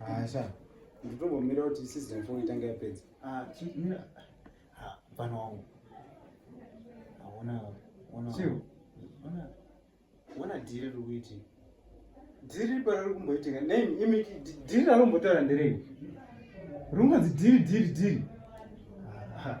Asha, ah, nditongomira kuti season 4 itange yapedza. Ah, chimira. Ah, mfana wangu. Haona ah, ona. Chiu. Ona. Ona dhiri riri kuiti. Dhiri para riri kumboitika. Nei imi dhiri rari kumbotaura nderei? Runganzi dhiri dhiri dhiri. Ah.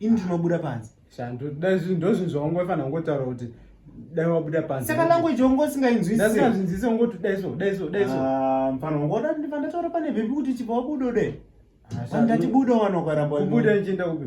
ini ndinobuda panze shandu dai zvinhu ndozvinhu zvaungofanira kungotaura kuti dai wabuda panze saka language wangu usingainzwisisazvinzise ungoti dai so dai so dai so ah, mfana wangu oda ndiva ndataura pane vhimbi kuti chibva wabuda ude andati buda wanokaramba kubuda ndichienda kupi